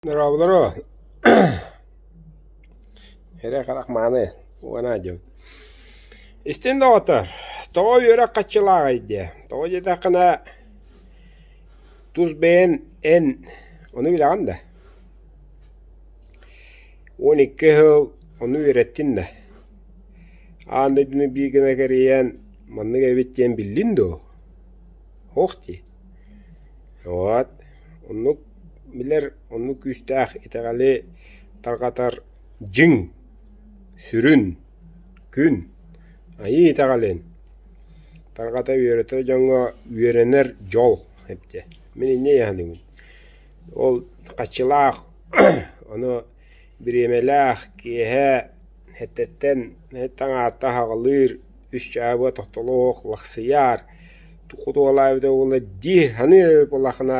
Дорооболоро, эрэ-харах мааны уона дьыбыт. Истин доҕотор, тоҕо үөрэх хаччылааҕый диэ? Тоҕо диэтэххинэ, тус бэйэн эн ону билэҕин да? Уон икки сыл ону үөрэттин да? Аан дойдуну биир гына кэрийэн маннык эбит диэн биллин дуу? Суох дии. Вот, оннук Билэр оннук күүстээх итэҕэли тарҕатар дьиҥ, сүрүн, күн, айыы итэҕэлин тарҕата үөрэтэр дьоҥҥо үөрэнэр дьол эбитэ. Мин инньэ иһэлинним. Ол хаччылаах, ону бириэмэлээх киэһэ эрдэттэн таҥаата аһаҕалыыр, үс чаабыга тохтолоох лахсыйар, туохха туһалаах эбитэ буоллар дии саныыр буоллаххына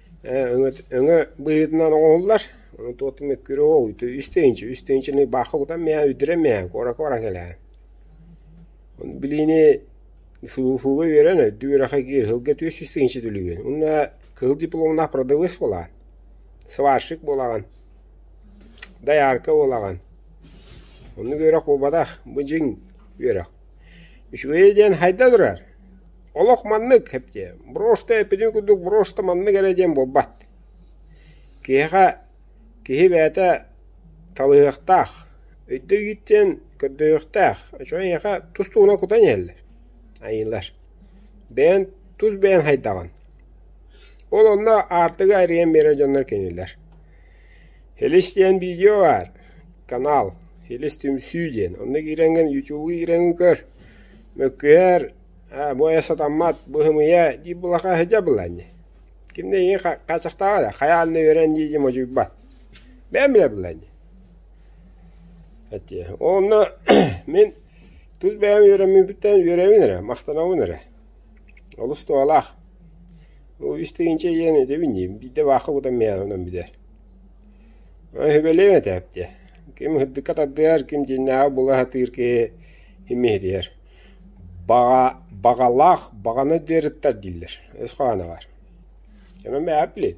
өҥө быһыытынан оҥоһуллар, ону туотум мөккүөрэ оо үстэ инчи, үстэ инчини баахха кутан миэхэ үрдүрэн миэхэ куоракка баран кэлээһин. Ону билиини сулууспуга үөрэн өйдүү үрэхэ киир сылга түөрт сүүс тыһыынча түлүгүн. Уонна кыһыл дипломнаах продавец буолаҕын, сварщик буолаҕын, доярка буолаҕын. Оннук үөрэх буолбатах, бу дьиҥ үөрэх. Үчүгэйэ диэн хайда турар, олох маннык эптиэ, брошта эппитин курдук брошта маннык эрэ диэн буолбат. Киһиэхэ киһи бэйэтэ талыһыахтаах, өйдө иитиэн көрдөһүөхтээх, үчүгэй эйиэхэ тус-туһуна кутан иһэллэр, айыылар. Бэйэн тус бэйэн хайдаҕын. Ол онно аартыгы айрыйан биэрэр дьоннор кинилэр Филис диэн видео баар, канал «Филис түмсүү» диэн. Онно киирэҥҥин, ютубу киирэҥҥин көр, мөккүһэр, «Ээ, бу айа сатаммат, быһымыйа» дии булаха сыдьа булан дии. Ким да ийэ хааччахтааҕа да, хайаан да үөрэн дии дии модьуйбат. Бэйэм билэ булан дии. Онно мин тус бэйэм үөрэммиппиттэн үөрэбин эрэ, махтанабын эрэ. Олус туһалаах. Ол истигинчэ ийээн өтөбүн диим, биирдэ баахха кутан миэхэ онон бүтэр. Сөбүлэбин этээпти. Ким ыһырдыкка тардыһар, ким дьиннэһэ була сатыыр киһи имиһитиһэр. Баҕа баҕалаах, баҕаны дыарыттар дииллэр, өс хоһооноҕор. Онон бэйэҕэ билин.